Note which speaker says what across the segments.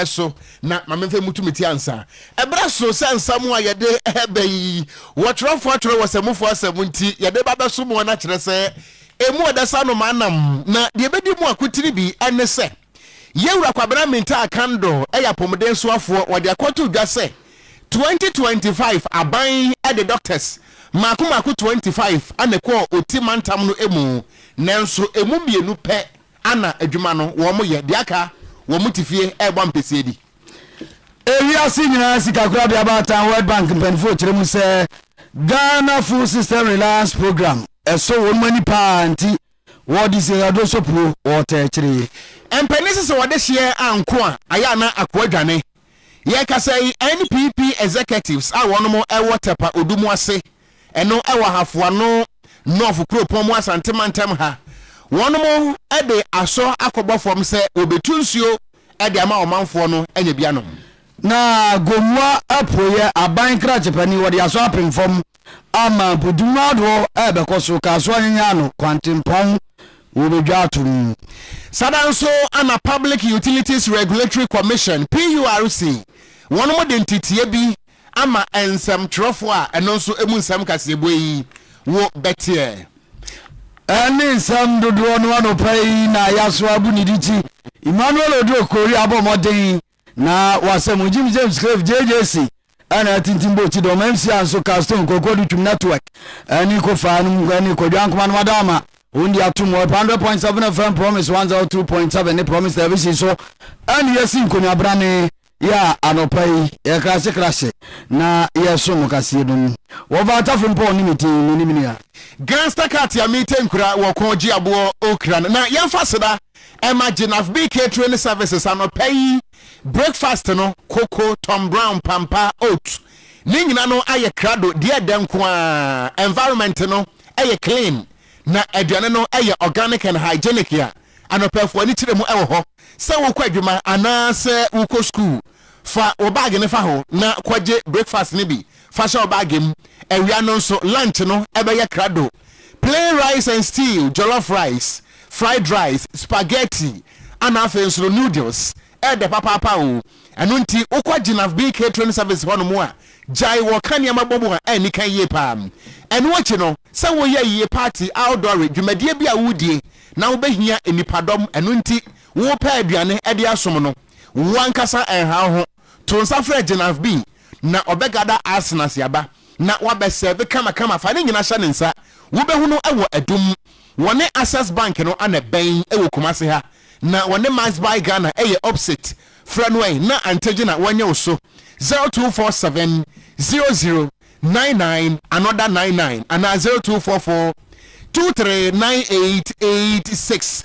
Speaker 1: so na ma memfa mmutu me ti ansa. Ɛberɛ so sɛ nsa mu a yɛde ba yi, wɔtwerɛfoɔ atwerɛ wɔ Samufo Asɛm mu nti, yɛde ba bɛsom wɔn akyerɛ sɛ ɛmu ɔdɛ sɛ anomaa nam. Na deɛ ɛbɛdi mu akotire bi ne sɛ, Yɛn Wura Kwabena Mintah Akando yɛ apɔmuden soafoɔ, wɔde akɔto dwa sɛ 2025 aban de Doctors mmaako mmaako 25 na ɛkɔɔ Oti mantam no mu, nanso ɛmu mmienu pɛ Ana adwuma no wɔn yɛ deɛ aka wɔn te fie ɛrebɔ ampesie di. Ewiase
Speaker 2: nyinaa sikakorabea baatan World Bank mpaninfoɔ kyerɛ mu sɛ Ghana Food System Reliance Programme ɛsɔ wɔn ani paa nti wɔde si aduro sopuo wɔɔtɛɛkyere. Mpanin se sɛ
Speaker 1: wɔde hyeɛ anko a ayɛ a na akoa dwane. Yɛkasa yi, NPP executives a wɔnom wɔ Tɛpa Odumo ase, ɛno ɛwɔ Ahafo Ano North kuropɔn mu Asante mantam ha, wɔnom de asɔ akɔbɔ fam sɛ wɔbetu nsuo de ama ɔmanfoɔ no anya bi anom. Na
Speaker 2: Gomoa apueɛ, Aban Krakye panin wɔde asɔ apem fam Ama po dum ahodoɔ rebɛkɔ so, kaa so anyanyan ano, kwantempɔn wɔbɛdwa ato mu. Sada
Speaker 1: nso ama Public Utilities Regulatory Commission, PURC, wɔnom de nteteɛ bi ama nsɛmtwerɛfoɔ a ɛno nso ɛmu nsɛm kaseɛbue yi wo bɛteɛ. Ɛne
Speaker 2: nsɛm dodoɔ no anɔpa yi na Ayaso Abu Niditi, Emmanuel Oduro Kori abɔ mmɔden Na wɔ asɛm ho, Jim James Cleave, JJC, na atintim bɔ ti dɔm, MC Anso, Carl Stone, Kwaku Adutwum, Network, ne Kofaa nom, ne Kwadwo Ankomah nom ada ama wɔn di atom wɔ 100.7 FM, Promise 102.7 ne Promise Television so, ɛne yɛsi nkonnwabrane yɛ a anɔpa yi yɛkrahye krahye na yɛso mo kaseɛ no mu. Wɔfa atafo mpɔ ne me din, menim nua. Gangster Cat a
Speaker 1: mete nkura wɔ kɔn gye aboɔ okra no na yɛmfa seda. Ɛma Jenaf Bee Catering Services anɔpa yi breakfast no, koko, Tom Brown, pampa, oat, ne nyina no ayɛ krado, deɛ ɛdɛ nko ara, environment no yɛ clean, na aduane no yɛ organic and hygienic a anɔpafo ani kyerɛ mu wɔ hɔ. Sɛ wokɔ adwuma anaa sɛ wokɔ sukuu, fa wo bag no fa hɔ na kɔgye breakfast no bi fa hyɛ wo bag mu. Awia no nso, lunch no bɛyɛ krado. Plain rice and stew, jollof rice, fried rice, spaghetti, ɛna afei nso no noodles, ɛɛdɛ papaapa oo, ɛno nti wokɔ Gyinaf Bee Catering Service hɔ nom a, gyae wɔka nneɛma bɔ mu a ɛnni kan yie paa. Ɛno akyi no, sɛ woyɛ ayie party, outdoore, dwumadie bi a woredie na wobɛhia nnipadɔm, ɛno nti wopɛ aduane de asom no, wo ankasa ɛnha wo ho. To nsa frɛ Jenaf Bing na ɔbɛgada Asena si aba na wabɛsɛɛve kama kama fa ne nyina hyɛ ne nsa wobɛhu no wɔ Adum wɔne Access Bank no ana ɛbɛn wɔ Kumase ha na wɔne Must Buy Ghana ɛyɛ opsit frɛ no ɛ na antɛ gye na wɔnyɛ wo so 0247 00 99 another 99 anaa 0244 23 9886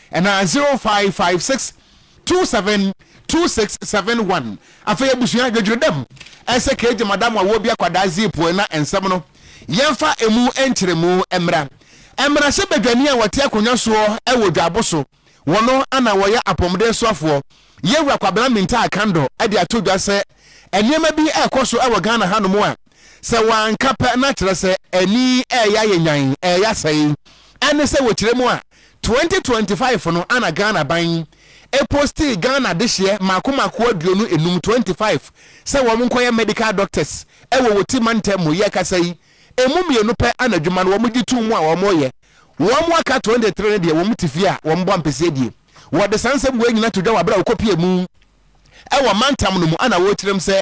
Speaker 1: Ɛna zero five five six two seven two six seven one Afei abusua dwodworo dɛm ɛsɛ kegye madam a wɔbi akwadaa zip ɛna nsɛm no yɛnfa ɛmu nkyerɛmu mmra mmarahyɛ badwani a wɔte akonwa soɔ ɛwɔ dwaabo so wɔno ɛna wɔyɛ apɔmuden soafoɔ yɛwura kwabena mintaa kandɔ ɛde ato dwa sɛ nneɛma bi ɛkɔ so ɛwɔ Ghana hanom a sɛ wɔanka pɛ na kyerɛ sɛ ani ɛɛyɛ ayɛ nyan ɛɛyɛ asɛe ɛne sɛ wɔkyerɛ mu a Twenty twenty five no ana Ghana ban yi ɛpostii Ghana dehyeɛ mako mako aduonu enum, twenty five, sɛ wɔn nkɔyɛ medical doctors ɛwɔ wɔti mantam mu, yɛ kasa yi ɛmu mmienu pɛ ana adwuma no wɔn gye too mu a wɔn reyɛ, wɔn aka twenty three no deɛ wɔn te fie a wɔn bɔ ampesie die. Wɔde saa nsɛm wei nyina to dwa wɔ aberɛ a wɔkɔ pie mu. wɔ mantam no mu a na wɔrekyerɛm sɛ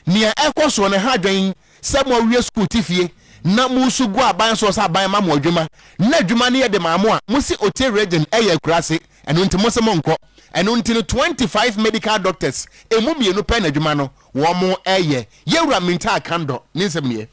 Speaker 1: nea ɛrekɔ soɔ no ha adwɛn sɛ mo awie sukuu te fie na mo resu gu aban soɔ sɛ aban ma mo adwuma na adwuma no yɛ de maa mo a mo se Otte Region yɛ akuraase ɛno nti mo se mo nkɔ ɛno nti no 25 medical doctors ɛmu mmienu pɛ na adwuma no wɔn reyɛ Yɛwura Mintaa Kandor ne nsɛm nie.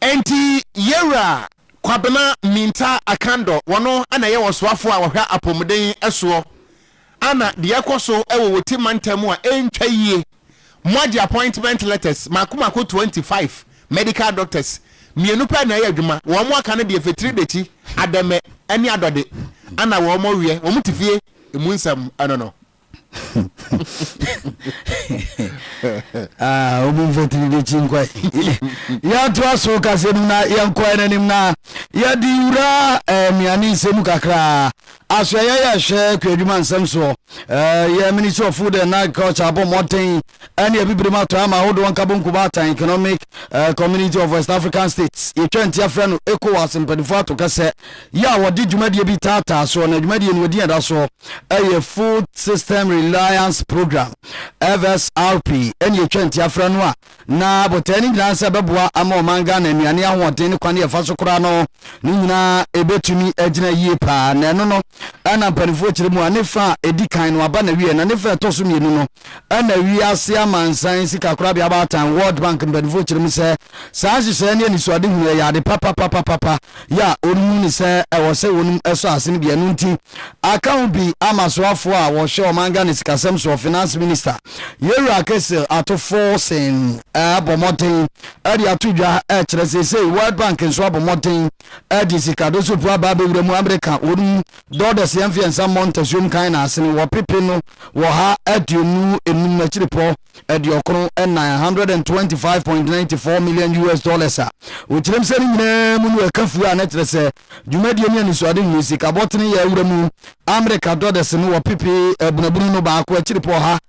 Speaker 1: Enti Yewura Kwabena Mintah Akandor, wɔno na ɛyɛ ɔsoafoɔ a ɔhwɛ apomuden soɔ ana deɛ ɛkɔ so wɔ Wote Mantam mu a ɛntwa yie, moagye appointment letters mako mako twenty five medical doctors mmienu pɛ na ɛyɛ adwuma, wɔn aka no deɛ Fetiri Dekyi, Adɛmɛ ne Adɔde ana wɔn reɛ, wɔn te fie emu nsɛm no no.
Speaker 2: ah, obi mfa tiri de kyi nkwae yɛatoa so kasɛ mu na yɛnkɔɛ no anim na yɛde wura eh, nnuane nsɛm mu kakraa asoɛyɛ yɛhwɛ kwadwuma nsɛm soɔ eh, yɛ ministry of food and agriculture abɔ mmɔden Ɛne Abibirem atɔe ama ahodoɔ Nkabom Kobaatan Economic Community of West African States, yɛtwa ntia frɛ no Ecowas mpaninfoɔ ato kɛsɛ yi a wɔde dwumadie bi taataa soɔ na dwumadie no wɔdin a ɛda soɔ yɛ Food System Reliance Program, FSRP, ɛne yɛtwa ntia frɛ no a na botae no nyinaa sɛ ɛbɛboa ama ɔman Ghana nnuane ahoɔden ne kwane a ɛfa so kora no ne nyinaa ɛbɛtumi agyina yie paa na ɛno no ɛna mpaninfoɔ kyerɛ mu a ne fa a ɛdi kan no aba na wie na ne fa ɛtɔ so mmienu no Ɛna Wiase Amansan Sikakorabea Baatan, World Bank, mpanyimfo kyerɛ mu sɛ, saa nhyehyɛe ne anisoadehunu yi yɛ ade papapapapa yi a wɔahu no sɛ ɛwɔ sɛ wɔn sɔ ase no bi. Ɛno nti, aka ho bi ama soafo a wɔhwɛ ɔman Ghana sikasɛm soɔ, Finance Minister Yewura Kessil Ato Forson abɔ mmɔden de ato dwa kyerɛ sɛ seesei World Bank nso abɔ mmɔden Ɛde sikado sopu aba abɛwura mu amereka wɔn mu dɔɔdɔseɛ mfeɛnsa mmɔ ntasuom kan na asene wɔ pepe no wɔ ha aduonu enum no akyirepɔ aduɔkron ɛnan, 125.94 million US dollars a wɔkyerɛm sɛ ne nyinaa mu no ɛka fuo a na kyerɛ sɛ dwumadie ne anisoade hunu sikabɔ tene yɛ awura mu amereka dɔdɛsene wɔ pepe abunabunu no baako akyirepɔ ha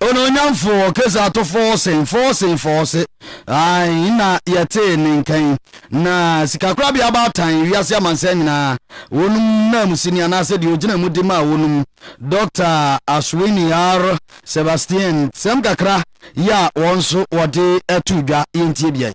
Speaker 2: Onuonyamfoɔ, kasa to fɔɔsen, fɔɔsen, fɔɔse, ae, na yɛtee ne nka yi, na sikakorabea baatan, wiase amansan nyinaa, wɔnom nanmusi ni anaasɛ deɛ ɔgyina mu de maa wɔnom, Dɔkta Ashwini R. Sebastien, sɛm kakra yi a wɔn nso wɔde too dwa, yɛntie biae.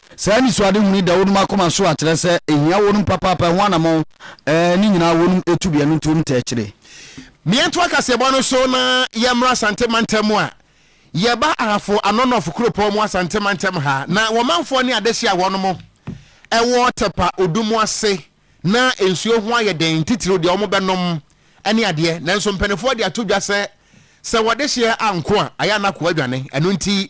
Speaker 2: Saa anisoadehunu yi da wɔnom akoma so a kyerɛ sɛ ehia wɔnom papaapa ɛho anamɔn ɛɛ ne nyinaa wɔnom etu bi ɛno nti wɔnom tɛɛ kyerɛ. Meɛntoa
Speaker 1: kaseɛbɔ no so na yɛmmra Asante mantam mu a yɛba Ahafo ano Nɔf kuropɔn mu Asante mantam ha na wɔmanfoɔ ne adehye a wɔnom ɛwɔ Tɛpa Odumo ase Ná nsuo ho ayɛ den, titiriw deɛ wɔbɛnom ne adeɛ. Nanso mpanimfoɔ de ato dwa sɛ, sɛ wɔde hyeɛ anko a, ayɛ a na akoa adwane. Ɛno nti,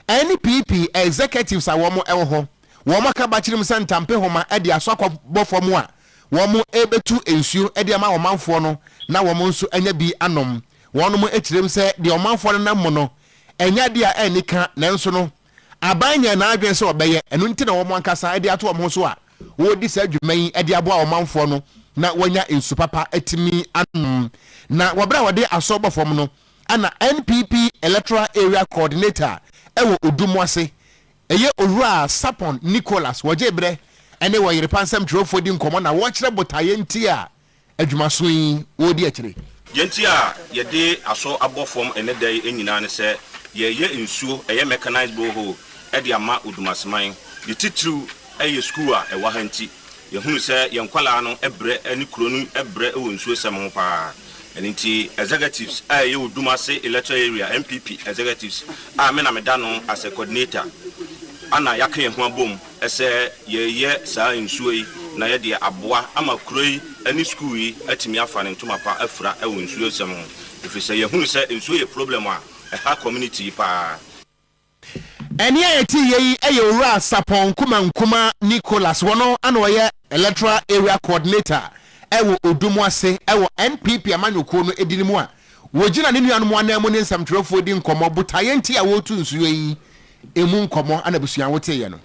Speaker 1: NPP executives a wɔwɔ hɔ, wɔaka bakyirim sɛ ntampehoma de asɔ akɔbɔ fam a, wɔrebɛtu nsuo de ama ɔmanfoɔ no na wɔn nso anya bi anom. Wɔnom kyerɛm sɛ deɛ ɔmanfoɔ no nam mu no, ɛnyɛ adeɛ a anni ka, nanso no, aban nyɛ n'adwene sɛ ɔbɛyɛ, ɛno nti na wɔn ankasa de ato wɔn ho so a wɔredi saa dwuma yi de aboa ɔmanfoɔ no na wɔanya nsu papa atumi anom. Na wɔ berɛ a wɔde asɔ bɔ fam no, na NPP Electoral Area Coordinator wɔ Odu mu ase, ɛyɛ Owura Sapon Nicholas, wɔgyee berɛ ne Wɔyerepa nsɛmtwerɛfoɔ di nkɔmmɔ na wɔkyerɛ botaeɛ nti a adwuma so yi wɔredi akyire. Deɛ nti a
Speaker 3: yɛde asɔ abɔ fam ɛnnɛ da yi nyinaa ne sɛ, yɛreyɛ nsuo, ɛyɛ mechanized borehole, de ama Odumaseman. Ne titiriw yɛ sukuu a ɛwɔ ha nti. Yɛhunu sɛ yɛn nkwadaa no brɛ ne kuro no brɛ wɔ nsuosɛm ho pa ara. Ɛno nti executives a ɛyɛ Odumase Electoral Area NPP executives a me na meda ano as a coordinator na yɛaka yɛn ho abom Ɛsɛ yɛyɛ saa nsuo yi na yɛde aboa ama kuro yi ne sukuu yi atumi afa ne ntoma pa afira wɔ nsuo nsɛm ho ɛfiri sɛ yɛhunu sɛ nsuo yɛ problem a ɛha community yi paa.
Speaker 1: Ɛnne a yɛte yɛ yi yɛ Owura Sapon Nkumah Nkumah Nicholas, ɔno na ɔyɛ Electoral Area Coordinator wɔ Odumwase wɔ NPP amanyɔkuo no din mu a wɔgyina ne nuanom ananmu ne nsɛmtwerɛfoɔ di nkɔmmɔ botaeɛ nti a wɔretu nsuo yi emu nkɔmmɔ na abusua a woteeɛ no.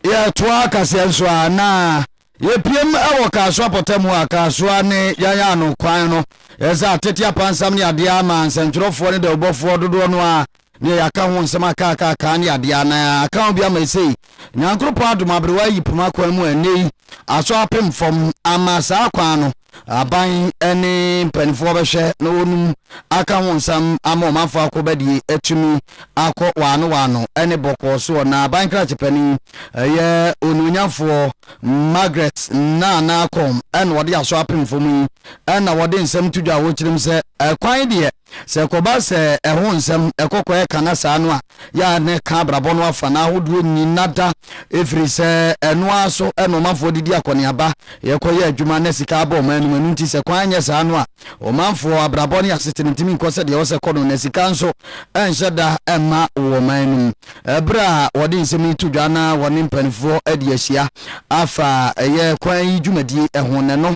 Speaker 1: Yɛtoaa
Speaker 2: kaseɛ nso a na yɛpiem wɔ Kasoa pɔtam hɔ a Kasoa ne yɛn a ano kwan no yɛ sɛ atete apansam ne adeɛ a ama nsɛntwerɛfoɔ ne dawubɔfoɔ dodoɔ no ara neɛ yɛaka ho nsɛm aka aka aka ne adeɛ a na aka ho bi ama ɛsei Nyankoropɔn adom aberewa ayi poma kwan mu a ɛnnɛ yi aso apem fam ama saa kwan no Aban ne mpanimfoɔ bɛhwɛ na wɔnum aka ho nsam ama ɔmanfoɔ akɔbadie atumi akɔ waano waano ne bɔkɔɔ soɔ. Na aban krakye panin yɛ Onuonyamfoɔ Margaret Nana Akom na ɔde asɔ apemfoɔ mu yi na ɔde nsɛm to dwa a ɔkyerɛm sɛ, Kwan deɛ, Sɛ ɛkɔba sɛ ɛho nsɛm ɛkɔkɔ ɛka na saa no a, yɛ ara na ɛka abrabɔ no afa no ahodoɔ nyina da, ɛfiri sɛ ɛno ara so na ɔmanfoɔ de di akɔneaba, yɛkɔ yɛ adwuma na sika abɔ ɔman no mu, ɛno nti sɛ kwan anyɛ saa no a, ɔmanfoɔ abrabɔ ne asetena ntumi nkɔ sɛdeɛ ɛwɔ sɛ ɛkɔ no, na sika nso ɛnhyɛ da mma wɔ ɔman no mu. Ɛberɛ a wɔde nsɛm yi to dwa na wɔne mpaninfoɔ adi ahyia afa ɛyɛ kwan yi dwumadie ho no, ɛno.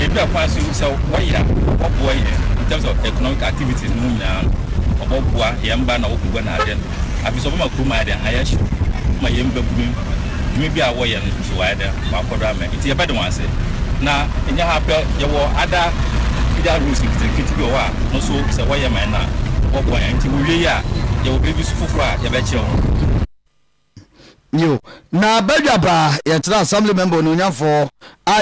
Speaker 4: Baabi a kwan so no, sɛ wɔyɛ a, wɔboa yɛn in terms of economic activities no mu nyinaa no. Wɔboa yɛn mma na wɔkɔgua no ade. Afei nso wɔbɛma kurom ayɛ dɛn? Ayɛ hyew ma yɛn mmabunuam. Dwuma bi a wɔyɛ no nso wɔayɛ dɛn? Wɔakɔ do ama. Nti yɛbɛda wɔn ase. Na ɛnyɛ ha pɛ, yɛwɔ other feeder roads nketenkete bi wɔ hɔ a, ɛno nso sɛ wɔyɛ ma yɛn a, wɔboa yɛn. Nti wɔwie yi a, yɛwɔ baabi nso foforɔ a yɛbɛkyerɛ wɔn.
Speaker 2: Nyew, na badwabaa yɛtsenaa Assembly member Onuonyamfo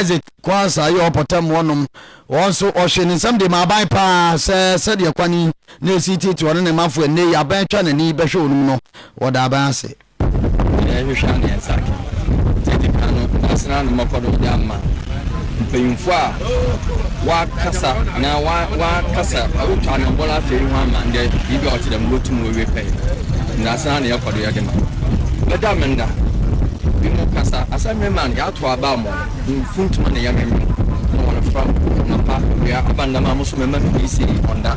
Speaker 2: Isaac Quansah yi ɔpɔtam hɔnom. Ɔno so, ɔhwee ne nsɛm dee maa aban paa sɛ sɛdeɛ kwan yi na esi teetee ɔne ne manfoɔ nnɛ yi, aban twa n'ani bɛhwɛ ɔnom no, wɔda aban ase. Yɛhwehwɛ
Speaker 5: a na yɛn nsa ka. Tete kan no, na asene ano mmɔkɔdɔm de ama. Mpanyimfo a wɔakasa na wɔakasa otwa no bɔn afa yi ho ama ndɛ biribi a ɔtse dɛm no wotum wowie pɛn. Ndaase ara na yɛkɔ do yɛ dɛm a, bɛda me nda. Binom kasa, asɛm me man, yɛatow aba amon, mfuntum na yɛmemem, na wɔafora mapã, owia aba ndam a mo so mɛma me wisie ɔnda.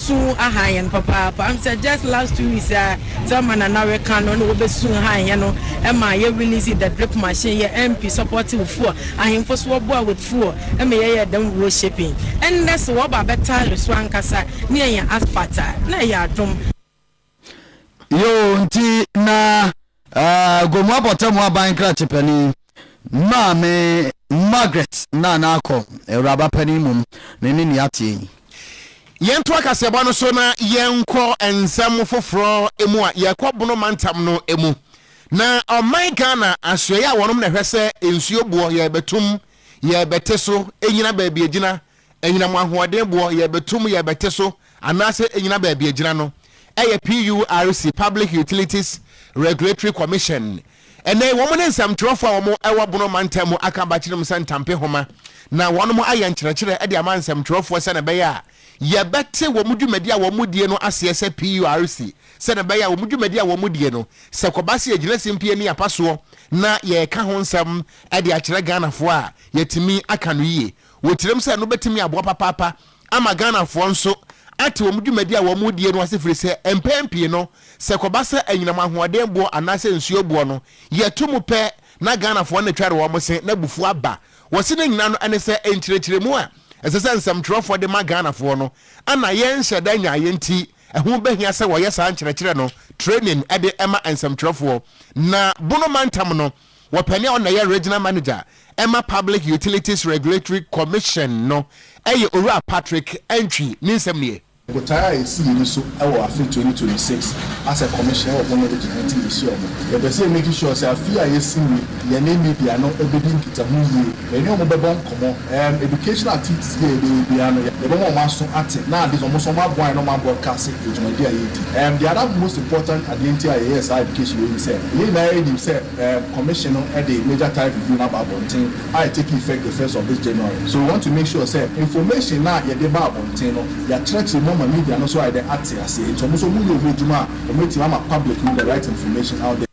Speaker 6: Su ahan hɛn papaapa. Am sɛ just last two weeks a Thelma na na reka no na wɔbɛ su han hɛn no ma yɛ release the drip machine yɛ MP support wo fuel ahenfo so wɔ boa with fuel ma yɛ yɛ dɛm road shaping ɛndɛ so wɔ ba bɛ tire so ankasa ne yɛ nya asphalt a na ɛyɛ adom. Yoo
Speaker 2: nti na uh, Gomu abɔtamu aban krakye panin Maame Margaret Nana akɔ awuraba panin mom ne ne nea ateɛ yi. Yɛnto
Speaker 1: akaseɛbɔ no so na yɛnkɔ nsɛm foforɔ mu a yɛkɔ Bono mantam no mu. Na ɔman Ghana asoɛeɛ a wɔnom na ɛhwɛ sɛ nsuo boɔ yɛrebɛtom, yɛrebɛte so, ɛnyina baabi ɛgyina, Anyinam ahoɔdenboɔ, yɛrebɛto mu, yɛrebɛte so, anaasɛ ɛnnyina baabi ɛgyina no, ɛyɛ PURC, Public Utilities Regulatory Commission. Ɛnnɛ yi, wɔn ne nsɛmtwerɛfoɔ a wɔwɔ Bono mantam mu aka bakyirim sɛ ntampe homa, na wɔnom ayɛ nkyerɛkyerɛ de ama nsɛmtwerɛfoɔ sɛdeɛ ɛbɛyɛ a yɛbɛte wɔn dwumadie a wɔdie no aseɛ sɛ PURC, sɛdeɛ ɛbɛyɛ a wɔn dwumadie a wɔdie no, sɛ kɔba sɛ yɛgyina simpie ne apasoɔ na yɛreka ho nsɛm de akyerɛ Ghanafoɔ a, yɛatumi aka no yie. Wɔkyerɛm sɛ ɛno bɛtumi aboa papaapa ama Ghanafoɔ nso ate wɔn dwumadi a wɔredie no ase firi sɛ mpɛn pii no, sɛ ɛkɔba sɛ anyinam ahoɔden boɔ anaasɛ nsuo boɔ no, yɛto mu pɛ na Ghanafoɔ no tware wɔn se na abufuo aba. Wɔse ne nyinaa no ɛne sɛ nkyerɛkyerɛmu a ɛsɛ sɛ nsɛmtwerɛfoɔ de ma Ghanafoɔ no na yɛnhyɛ da nyaeɛ nti ɛho bɛhia sɛ wɔyɛ saa nkyerɛkyerɛ no training de ma nsɛmtwerɛfoɔ na Bono mantam no Wɔpɛ nea ɔna yɛ Regional Manager ma Public Utilities Regulatory Commission no yɛ Owura Patrick Antwi, ne nsɛm nie. Botae a yɛsi yɛni
Speaker 7: so wɔ afe twenty twenty six as a commission wɔ ho no de gyina nti yɛhyia ɔmo. Yɛpɛ sɛ yɛ make sure sɛ afe a yɛsi mu yi yɛne media no bɛdi nkitaho yie. Yɛne wɔn bɛbɔ nkɔmmɔ. Ɛɛm, educational activities bi a yɛbɛyɛ biara no, yɛbɛma wɔn aso ate, na ade nso wɔn nso wɔaboa yɛn na wɔabroadcase dwumadi a yɛredi. Ɛɛm, the other most important adeɛ nti a yɛyɛɛ saa education wei ne sɛ, yɛn nyinaa nim sɛ ɛɛm, commission no de major tariff review no aba abɔnten a ɛ take effect the first of this January. So we want to make sure sɛ information no a yɛde ba abɔnten no, yɛakyerɛkyerɛ mu ama media no nso ayɛ dɛn ate aseɛ, nti wɔn nso wɔyɛ wɔn adwuma a wɔatumi ama public no the right information out there.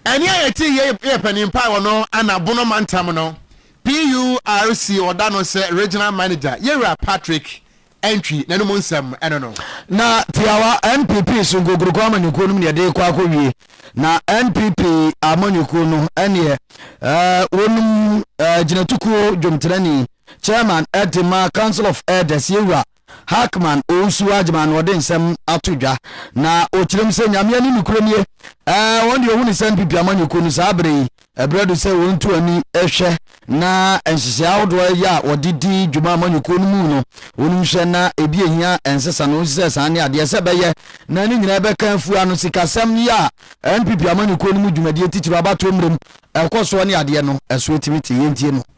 Speaker 1: Ɛnne a yɛte yɛ yɛ panimpa wɔ no Anabono Mantam no PURC ɔda no sɛ Regional Manager Yɛwura Patrick Antwi n'anom nsɛm ɛno no. Na tiawa
Speaker 2: NPP so nkokuroko amanyɔkuo no mu na yɛde rekɔ akɔwie. Na NPP amanyɔkuo no ɛneɛ ɛɛ wɔnom ɛɛ gyinatukuo dwomtenani, Chairman ɛde ma Council of Elders Yɛwura Hackman Owusu-Agyeman na ɔde nsɛm ato dwa na ɔkyerɛ mu sɛ Nyame ani nokorɛ nie, ɛɛ wɔn deɛ ɔhu ne sɛ NPP amanyɔkuo no saa berɛ yi ɛberɛ do sɛ wɔn tu ani hwɛ na nhyehyɛɛ ahodoɔ a ɛyɛ a wɔde di dwuma amanyɔkuo no mu no wɔn nhwɛ na ebi ɛhia ɛnsesa no wɔn sisɛ saa ne adeɛ sɛ bɛyɛ na ne nyinaa bɛka afua no sikasɛm yi a NPP amanyɔkuo no mu dwumadie titiriw abatoɔ mmerɛ mu ɛkɔ soɔ ne adeɛ no ɛso ɛtumi te yɛntie no.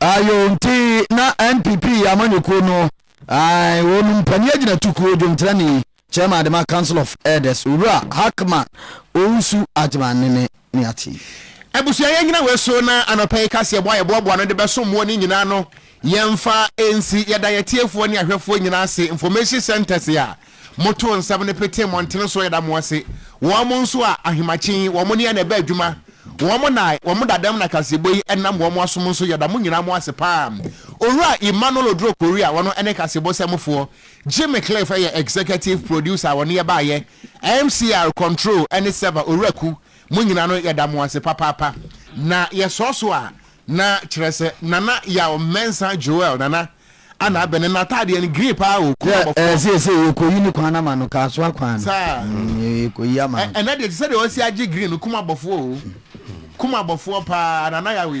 Speaker 8: Ayo
Speaker 2: nti na NPP amanyɔkuo no ae wɔn mpanin agyinatukuo dwonkyerɛni Chairman Adema Council of Elders Owura Hackman Owusu Agyman ne ne ne ate. Abusua yɛn nyina
Speaker 1: wei so na anɔpa yi kaseɛ bɔ a yɛboaboa ano de bɛso moɔ no nyinaa no yɛmfa nsi yɛda yɛtiefoɔ ne ahwɛfoɔ nyinaa ase information centers a Moto nsɛm no pete mmɔntene so da mo ase, wɔn nso a, ahemakye yi, wɔn ne na ɛbɛ adwuma, wɔn na wɔn dadam na kasebo yi nam wɔn asom nso yɛda mo nyinaa mo ase paa. Owura Emmanuel Oduro Kori a ɔno ne kasebo sɛmfoɔ, Jimmy Cliff yɛ Executive Producer a ɔne yɛ baeɛ, MCR, Control ne Server, Owura Ku, mo nyinaa no yɛda mo ase papaapa. Na yɛsɔɔ so a, Na kyerɛ sɛ Nana Yaw Mensah Joel Nana a na abɛn no n'ataadeɛ no green paa o kuu abɔfoɔ. Yɛ ɛɛ seesei yɛkɔyi
Speaker 2: ne kwan no ama no Kasoa kwan no Saa. mm
Speaker 1: yɛkɔyi ama
Speaker 2: Ɛ no. ɛnɛ deɛ te sɛ deɛ wasi
Speaker 1: agye green no kum abɔfoɔ o kum abɔfoɔ paa Nana Yaw yi.